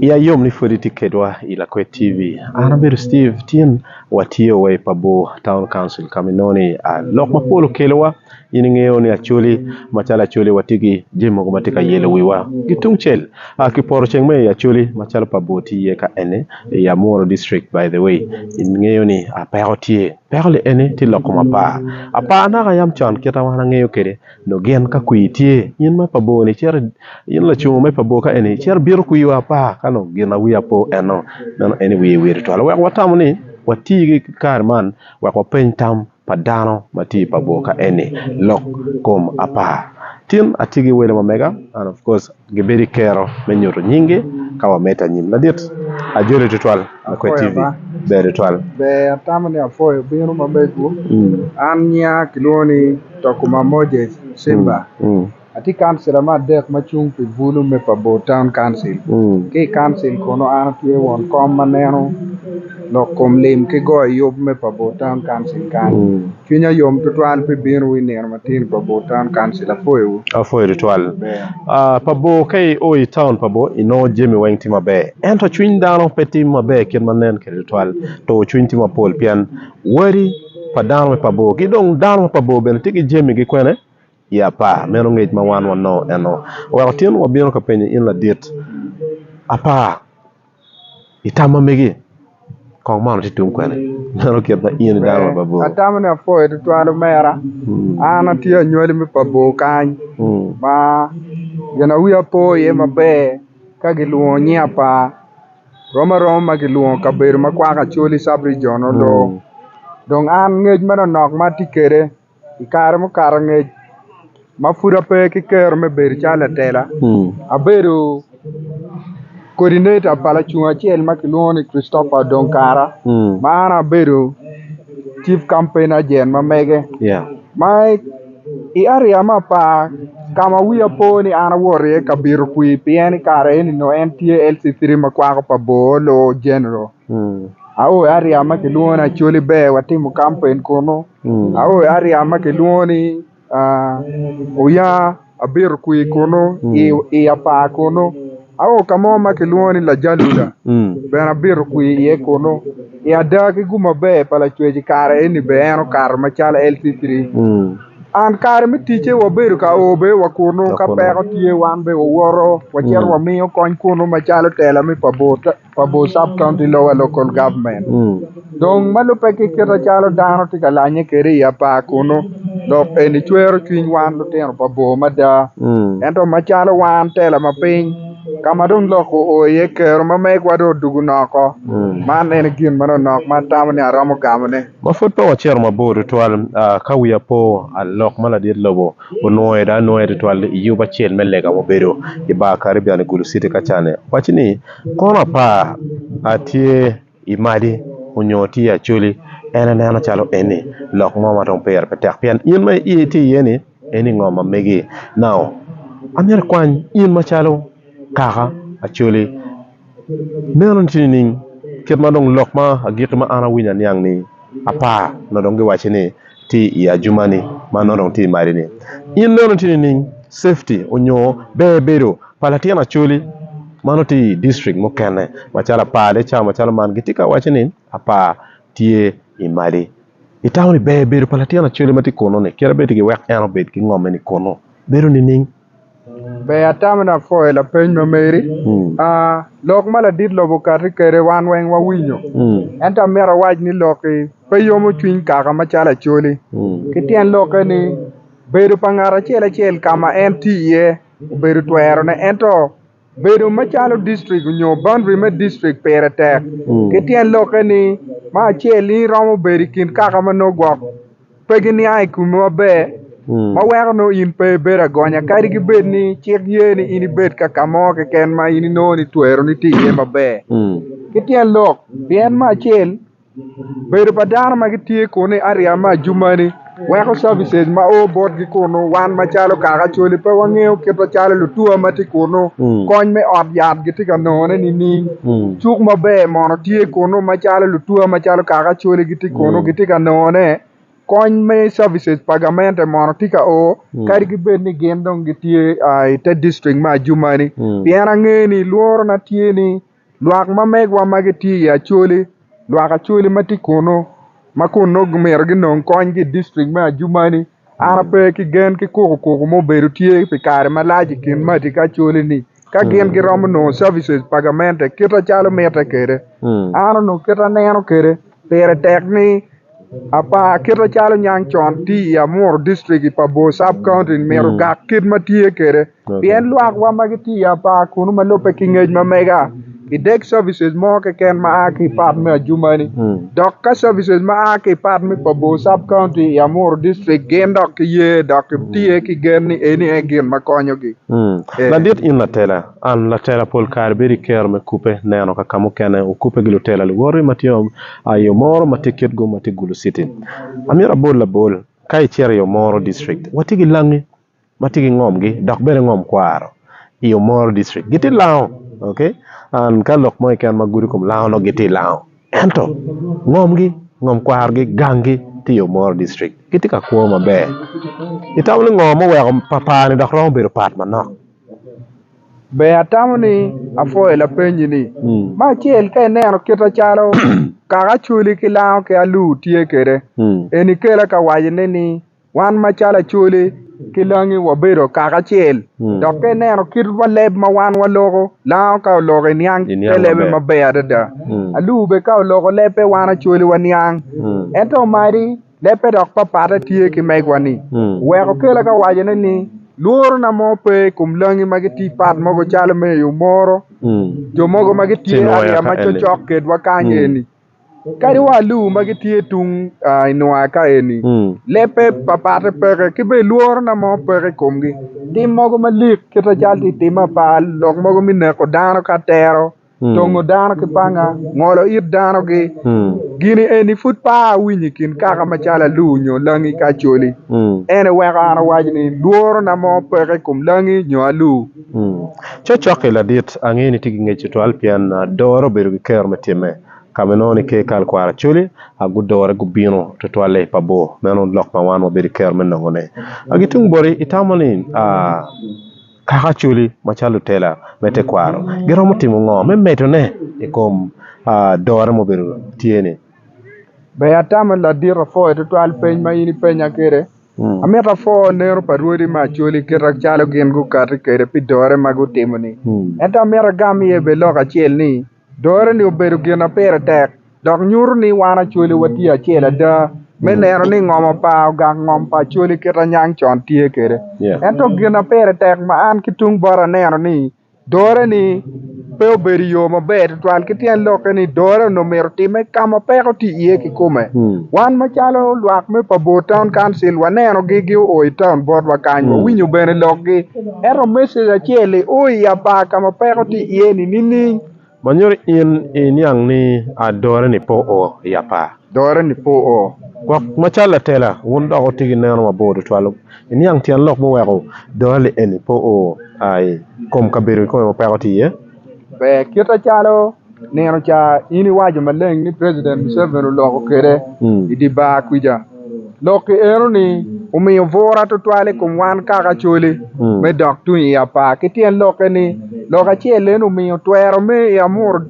Ya yom ni pwod itye kedwa i Lakwed TV. An abedo Steve Tyen, watye wa i Pabor Town Council ka ma inongo ni lok mapol okelowa. In ingeyo ni Acholi, macalo Acholi watye ki jami mogo ma tye ka yelo wiwa. Ki tungcel ki poto ceng ma i Acholi macalo Pabor tye iye ka eni, i Amuru District by the way, ingeyo ni peko tye. Peko-ni eni tye lok kom apar. Apar naka yam con kit ma wan angeyo kwede. Dong gin ka kwir tye, in me pa bor-ni cito, in lacungo me pa bor ka eni, cito ibito kwirwu apa? Ka dong gin ma wir apo enno, meno en ni wir wiye tutwal. Wek watamo ni wati ki kare man wek wapeny tam pa dano ma tye i pa bor ka eni, Lok kom apar. Tin atye ki welo ma mega, and of course. Gibedo i kero me nyuto nyingi ka wamedde anyim madit. Ajoli tutwal Lakwed TV. Ber tutwal. Ber atamo ni apwoyo bino ma mego an nyiya kilwongo ni Tokuma Moses Simba atye kancila me adek ma cung pi bulu me pa bor town council ki i council kunu an atye won kom ma neno lok kom lim ki goyo yub me pa Bur Town Council kany. Cwinya yom tutwal pi bino wu i nino matin pa Bur Town Council. Apwoyo wu. Apwoyo tutwal. Pa Bur ka i o i town pa Bur i nongo jami weng tye maber ento cwiny dano pe tye maber kit ma nen kwede tutwal. Tur cwiny tye mapol pien wadi pa dano me pa Bur ki dong dano me pa Bur bene tye ki jami gi kwene. I apar, meno ngec ma wan wanongo eno. Wek otin wabino ka penyo in ladit apar i tam ma megi, kong man watye tung kwene? Meno kit ma in idano me pa bor. Atamo ni apwoyo tutwal omera. An atye anywali me pa bor kany ma gin ma wiya po iye maber ka gilwongo nying apar rom aroma ma kilwongo kabedo ma kwako Acholi sub-rijion onongo dong an ngec manonok ma atye kwede i kare mukato angec ma pud ape ki kero me bedo calo latela abedo kodineta pa lacung acel ma kilwongo ni Christopher Odong Kara ma an abedo cif kampain ajent ma mege ma i eriya me apar ka ma wiya po ni an awoto iye ka bito kwir pien i kare eni nongo en tye LC3 ma kwako pa Bor Loo General. Aoyo aria ma kilwongo ni Acholi Ber watimo kampeen kunu, aoyo aria ma kilwongo ni Oya abito kwir kunu i apar kunu, aoyo ka mo ma kilwongo ni Lajaluda bene abito kwir iye kunu, i ada ki gum maber pa Lacwec i kare eni bene en okato macalo LC three. An kare me ticce wabedo ka o bene wa kunu ka peko tye wan bene wawoto wacito wamiyo kony kunu macalo tela me pa bot Pabu Sub-County Lower Local Government dong ma lubbe ki kite calo dano tye ka lanye kwede i apar kunnu. Lok eni cwero cwiny wan lutino pa bor mada. Ento macalo wan tela ma piny ka ma dong lok oo iye, kero ma megwa dong odwogo noko. Man en gin manonok ma atamo ni aromo gamone. Ma pud pe wacito mabor tutwal, ka wiya po, alok ma ladit lobo onwoyo dong anwoye tutwal i yub acel me lega ma obedo i Bar Caribbean i Gulu City ka ca-ni. Owacci ni, Kono apar atye i madi onyo atye acholi en aneno calo eni lok mo madong pire pe tek pien in ma i tye iye ni eni ngo ma megi now amyero ikwany in macalo kaka acholi meno ni tye nining kit ma dong lok ma agiki ma an awinyo aniang ni apar nyo dong giwaci ni tye i ajumani ma nongo dong tye i madi ni in nongo tye nining safety onyo ber bedo pa latin acholi ma nongo tye i district mukene macalo apar de cawa macalo man gitye ka waco ni apar tye i madi itamo ni ber bedo pa latin acholi matye kunu ni kit ma bed ki wek en obed ki ngom mene kunu bedo nining. Ber atamo ni apwoyo lapeny ma meri lok ma ladit lobo okati kwede wan weng wawinyo ento amito awac ni lok-ki pe yomo cwiny kaka macalo Acholi ki tyen lokke ni bedo pa ngat acel acel ka ma en tye iye obedo twerone ento Bedo macalo district onyo boundary me district pire tek ki tyen lokke ni me acel in iromo bedo ikin kaka ma nongo gwok pe giniang i komi maber ma weko nongo in pe ibedo agonya kadi ki bed ni cik ye ni in ibed ka kamo keken ma in inongo ni twero ni tye iye maber ki tyen lok pien me acel Bedo pa dano ma gitye kunu i ariya me ajumani weko cabices ma o botgi kunu wan macalo kaka Acholi pe wangeyo kit macalo lutua ma tye kunu, kony me ot yat gitye ka nongone nining? Cuk maber mono tye kunu macalo lutua macalo kaka Acholi gitye kunu gitye ka nongone? Kony me cabices pa gamente mono tye ka o kadi ki bed ni gin dong gitye i te dictrict me ajumani? Pien angeyo ni lworona tye ni Lwak ma megwa ma gitye i Acholi, lwak Acholi ma tye kunnu ma kun nongo gimito ginong kony ki i dictrict me Adjumani, an ape ki gen ki kukukuku ma obedo tye pi kare malac i kin maca ki Acholi-ni ka gin giromo nongo services pa gamente kite calo mitte kwede. An onongo kite aneno kwede pire tek ni Apar kite calo niang con tye i Amuru district pa Bor sub county ni myero ogak kit ma tye kwede pien lwak wa ma gitye i apar kunu ma lubbe ki ngec ma mega ki dek services mo keken ma a ki part me ajumani dok ka services ma a ki part me pa Bor sub county i Amuru district gin dok ki ye dok ki tye ki gen ni eni aye gin ma konyo gi. Ladit in latela, and latela pol kare bedo i kero me kupe neno ka kamukene okupe gi lutela luwoti ma tye I yo moro ma tye kitgo ma tye Gulu City, amyero abol labol, ka icito i yo moro district, watye ki langi ma tye ki ngomgi dok bene ngom kwaro i yo moro district gitye lango ok and ka lok mo keken ma gudo kom lango nongo gitye lango ento ngomgi ngom kwarogi gangi tye i yo moro district gitye ka kwo maber itamo ni ngo ma oweko papani dok romo bedo pat manok? Ber atamo ni apwoyo lapenyi-ni. Me acel ka ineno kite calo kaka Acholi ki Lango ki Alur tye kwede, eni kela ka wacone ni wan macalo Acholi ki Langi wabedo kaka acel. Dok ka ineno kit leb ma wan waloko, Lango ka oloko iniang te lebbe maber adada. Alur bene ka oloko lebbe wan Acholi waniang. Ento omadi. Lebbe dok papatte tye ki megwa-ni. Wek okele ka wacone ni, lworona mo pe i kom langi ma gitye pat mogo calo me yo moro jo mogo ma gitye ariya ma cocok kedwa kany eni, kadi wa aluu ma gitye tung i nwaya ka eni. Lebbe papatte peke, ki bene lworona mo peke i komgi. Tim mogo malik kite calo tye timme apa, lok mogo me neko dano ka tero. tongo dano ki panga, ngolo it danogi. Gini eni pud pe awinyo i kin kaka macalo aluu nyo langi ki acholi. Ene weko an awac ni lworona mo peke i kom langi nyo aluu. Cokcok-ki ladit, angeyo ni itye ki ngec tutwal pien adore obedo ki kero me time. Ka ma inongo ni ke ikal kwaro acholi, gudore gubino tutwalle i pa bor. Meno lok ma wan wabedo ki kero me nongone. Ki tung boti, itamo ni. Kaka Acholi macalo lutela me tekwaro giromo timo ngo me medone i kom adore ma obedo tye ni? Ber atama ladit apwoyo tutwal peny ma in ipenya kwede. Amito apwoo neno pa rwodi me Acholi kite calo gin gukati kwede pi dore ma gutimo ni. Ento amito agam iye bene lok acel ni, Dore-ni obedo gin ma pire tek dok nyuto ni wan Acholi watye acel ada me neno ni ngomo pa ogak ngom pa Acholi kit ma nyang con tye kwede. Ento gin ma pire tek ma an ki tung bota aneno ni dore-ni pe obedo i yo maber tutwal ki tyen lokke ni dore onongo myero otimme ka ma peko tye iye kikome. Wan macalo lwak me pa Bor Town Council wanenogi gio i taun botwa kany, wawinyo bene lokgi. Ento message acel i o i apar ka ma peko tye iye ni nining? Ma nyuto in i niang ni a dore ni po o i apar. Dore ni po o. Gwok ma cal latela wun dok wuti ki neno mabor tutwal i niang tyen lok muweko dore li eni po o a i kom kabedo kikome ma peko tye iye. Ber kite calo. nino ca in iwaco maleng ni president Museveni oloko kede i dye bar kwija. Lokki eno ni omiyo bura twatwal i kom wan kaka Acholi me dok tung i apar ki tyen lokke ni lok acel eno omiyo twero me i Amuru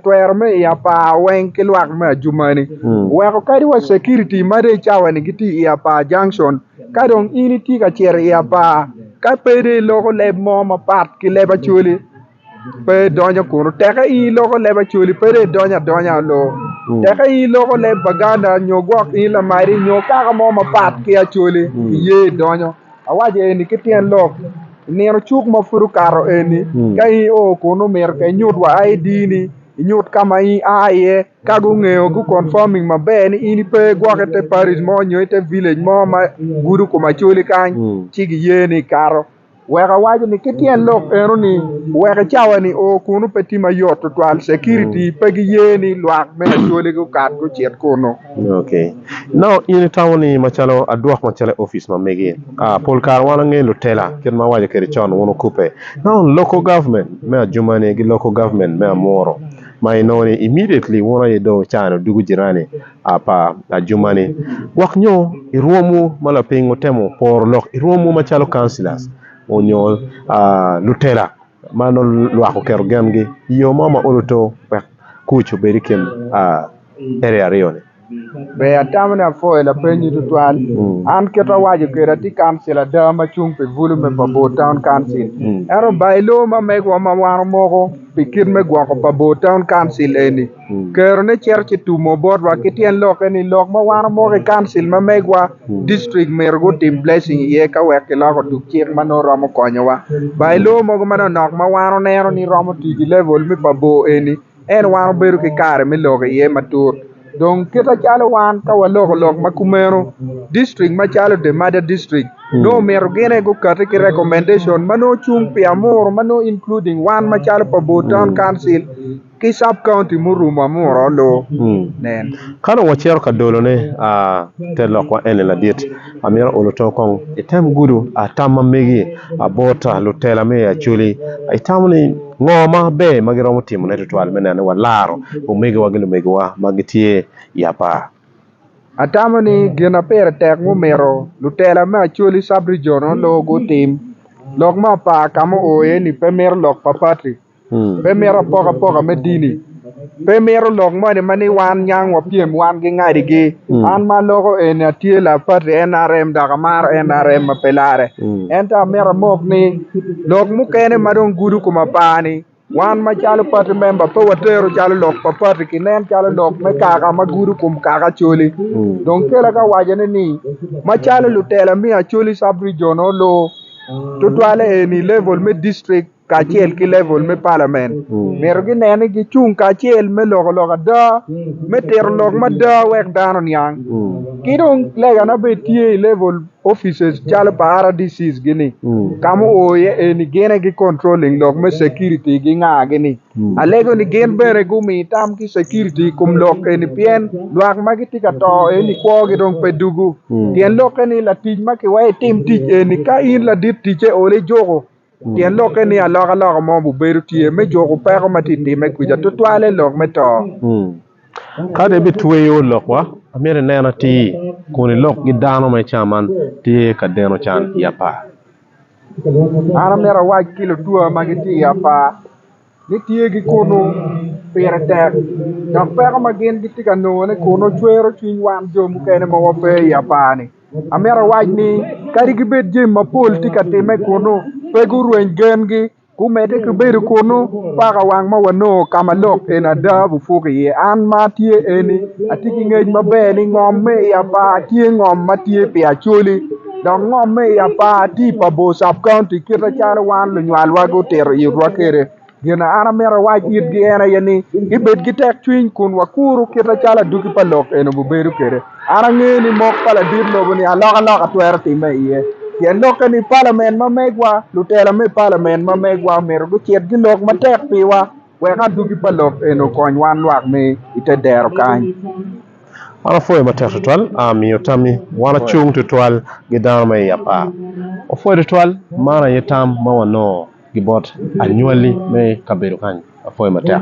twero me i apar weng ki lwak me Adjumani oweko kadi wa security ma dong i cawa ni gitye i apar junction ka dong in itye ka cito i apar ka pe dong iloko leb mo mapat ki leb Acholi. pe idonyo kunu teke in iloko leb Acholi pe dong idonyo adonya olo teke in iloko leb Baganda nyo gwok in Lamadi nyo kaka mo mapat ki Acholi iye idonyo awaco eni ki tyen lok i nino cuk ma pud okato eni ka in io kunu myero ka inyut wa ID-ni inyut ka ma in aa iye ka gungeyo gu confirming maber ni in ipe gwok ite parish mo nyo ite village mo ma gudo kom Acholi kany ci giyeni ikato. Wek awaco ni ki tyen lok eno ni wek i cawa ni o kunu pe tye ma yot tutwal, security pe gi ye ni lwak me Acholi gu kat gu cit kunu. Ok nongo in i tamo ni macalo adwok macalo i office ma mege? Aa pol kare wan wangeyo lutela kit ma awaco kede con wun okubbe nongo local government me ajumane gi local government me amuru ma i nongo ni immediately wun aye dong i caa ni odugu jirani a pa ajuma-ni, gwok nyo i rwomwu ma lapiny wutemo poro lok i rwomwu macalo councillors onyo lutela ma nongo lwak oketo gengi i yo mo ma olo too wek kuc obed i kin area aryo-ni. Ber atamo ni apwoyo lapeny-nyi tutwal. An kit ma awaco kede, atye councillor ada ma cung pi bulu me pa Bor Town Council. Ento ba i loo ma megwa ma wan omoko pi kit me gwoko pa Bor Town Council eni, Kerone cito ci tumo botwa ki tyen lokke ni lok ma wan omoko i Council ma megwa, District myero gutim blessing iye ka wek kiloko tuk cik ma nongo romo konyowa. Ba i lowo mogo manonok ma wan oneno ni romo tii ki level me pa bor eni, en wan obedo ki kare me loko iye matut. Dong kite calo wan ka waloko lok ma kumeno, District macalo The Mada District nongo omito gine gukati ki recommendation ma nongo cung pi amuru ma nongo including wan macalo pa bor Town Council, ki sub county murumo amura lu nen. Ka dong wacito ka dolone a te lokwa eni ladit, amito olo tong kong item gudo a tam ma megi a bot a lutela me Acholi. Itamo ni ngo ma ber ma giromo timo ne tutwal me neno ni wa laro omegiwa gi lumegiwa ma gitye i apar? Atamo ni gin a pire tek mumito lutela me Acholi sub region o lu gutim, lok me apar ka mu o iye ni pe mito lok pa party. Pe mito apokapoka me dini. Pe mito lok moni ma ni wan nyang wapyem wan ki ngadigi. An ma aloko eni atye laa pati NRM dok amaro NRM ma pe larre. Ento amito amok ni lok mukene ma dong gudo kom apani wan macalo pati memba pe watero calo lok pa pati kinen calo lok me kaka ma gudo kom kaka Acholi. Dong kela ka awacone ni macalo lutela me Acholi sub-rijion nongo luu tutwalle eni level me district kacel ki level me palament myero ginen ni gicung kacel me loko lok ada, me tito lok mada wek dano oniang. Ki dong legane bene tye i level offices calo pa RDCs gini ka ma oo iye eni gin aye gi controlling lok me security gi nga gini. Alego ni gin bene gumi tam ki security i kom lok eni pien lwak ma gitye ka to eni kwo gi dong pe dugu. Tyen lokke ni latic ma kiweyo itim tic eni ka in ladit ticce ole ijuku. Pien lokke ni alokaloka mo bibedo tye me juko peko ma tye ka timme kwica, tutwalle lok me to. Ka dong ibitweyo lokwa, amyero inen atir, kun ilok ki dano ma ica man tye ka deno can i apar. An amyero awac ki lutua ma gitye i apar. ni tye ki kunu pire tek dok peko ma gin gitye ka nongone kunu cwero cwiny wan jo mukene ma wape i apar-ni. Amito awac ni kadi gibed jami mapol tye ka timme kunu, pe gurweny gengi. Gumedde ki bedo kunu paka wang ma wanongo ka ma lok en ada bupuk iye. An ma atye eni, atye ki ngec maber ni ngom me i apar tye ngom ma tye pi acoli. Dok ngomme i apar tye i Pabor Sub County kite calo wan lunywalwa gutito itwa kwede. Gin ma an amito awac itgi en aye ni, gibed ki tekcwiny kun wakuru kite calo adwogi pa lok eni obibedo kwede. An angeyo ni mok pa ladit lobo-ni alokaloka twero timme iye. Pien lokke ni palamen ma megwa, lutela me palamen ma megwa myero gucit gilok matek piwa. Wek adwogi pa lok eni okony wan lwak me i te dero kany. An apwoyo matek tutwal aa miyo tammi. Wan acung tutwal ki dano ma iye apar. Wapwoyo tutwal, man aye tam ma wanongo ki bot anywali me kabedo kany. Apwoyo matek.